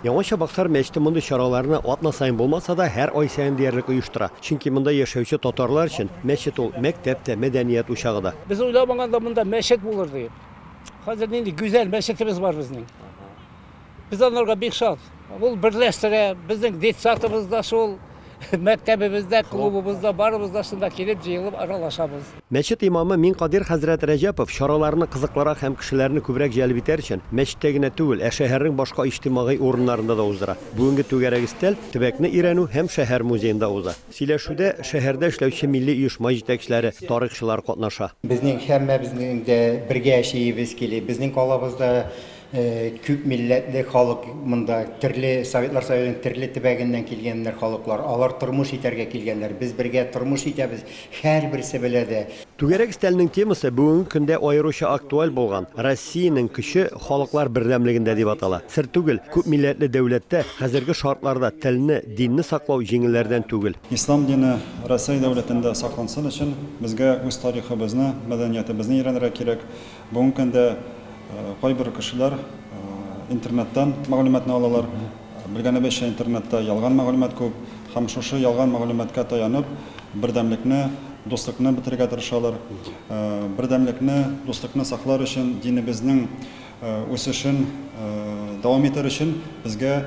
Яңа Чабаксар мәчете мондый чараларны атна саен булмаса да, һәр ай саен диярлек оештыра. Чөнки монда яшәүче татарлар өчен мәчет ул, мәктәп тә, мәдәният учагы да. Без уйламаганда монда мәчет булыр дип. Хәзер нинди гүзәл мәчетебез бар безнең. Без анарга бик шат. Ул берләштерә, безнең детсадыбыз да шул. Мәктәбебездә, клубыбызда, барыбыз да шунда килеп, җыелып аралашабыз. Мәчет имамы Минкадир хәзрәт Рәҗәпов чараларны кызыклырак һәм кешеләрне күбрәк җәлеп итәр өчен, мәчеттә генә түгел, ә шәһәрнең башка иҗтимагый урыннарында да уздыра. Бүгенге түгәрәк өстәл төбәкне өйрәнү һәм шәһәр музеенда уза. Сөйләшүдә шәһәрдә эшләүче милли оешма җитәкчеләре, тарихчылар катнаша. Безнең һәммәбезнең дә бергә яшиебез кили. Безнең калабызда Күп милләтле халык монда, төрле Советлар Союзының төрле төбәгеннән килгәннәр халыклар. Алар тормыш итәргә килгәннәр. Без бергә тормыш итәбез, һәрберсе белә дә. Түгәрәк өстәленең темасы бүгенге көндә аеруча актуаль булган, Россиянең көче халыклар бердәмлегендә дип атала. Сер түгел, күп милләтле дәүләттә хәзерге шартларда телне, динне саклау җиңелләрдән түгел. Ислам дине Рәсәй дәүләтендә саклансын өчен, безгә үз тарихыбызны, мәдәниятебезне өйрәнергә кирәк. Бүгенге көндә кайбер кешеләр интернеттан мәгълүматны алалар. Белгәнебезчә, интернетта ялган мәгълүмат күп һәм шушы ялган мәгълүматка таянып, бердәмлекне, дуслыкны бетерергә тырышалар. Бердәмлекне, дуслыкны саклар өчен, динебезнең үсешен дәвам итәр өчен безгә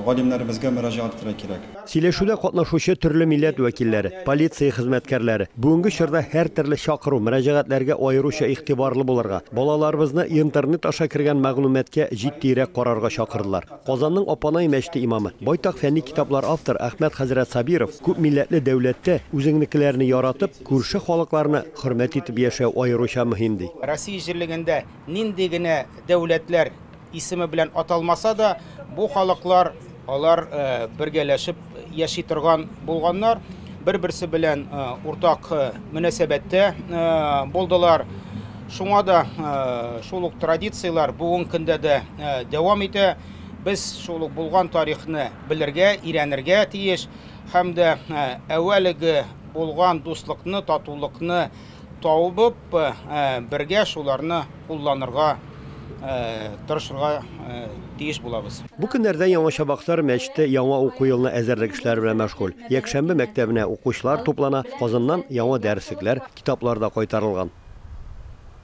галимнәребезгә мөрәҗәгать итәргә кирәк. Сөйләшүдә катнашучы төрле милләт вәкилләре, полиция хезмәткәрләре бүгенге чорда һәртөрле чакыру, мөрәҗәгатьләргә аеруча игътибарлы булырга, балаларыбызны Интернет аша кергән мәгълүматкә җитдиерәк карарга чакырдылар. Казанның Апанай мәчете имамы, байтак фәнни китаплар авторы Әхмәт хәзрәт Сабиров, Күп милләтле дәүләттә үзеңнекеләрне яратып, күрше халыкларны хөрмәт итеп яшәү аеруча мөһим, ди. Россия җирлегендә нинди генә дәүләтләр Исеме белән аталмаса да, бу халыклар, алар бергәләшеп яши торган булганнар, бер-берсе белән уртак мөнәсәбәттә булдылар. Шуңа да шул ук традицияләр бүгенге көндә дә дәвам итә. Без шул ук булган тарихны белергә, өйрәнергә тиеш һәм дә әүвәлеге булган дуслыкны, татулыкны, табып, бергә шуларны кулланырга тырышырга тиеш булабыз. Бу көннәрдә Яңа Чабаксар мәчете яңа уку елына әзерлек эшләре белән мәшгуль. Якшәмбе мәктәбенә укучылар туплана, Казаннан яңа дәреслекләр, китаплар да кайтарылган.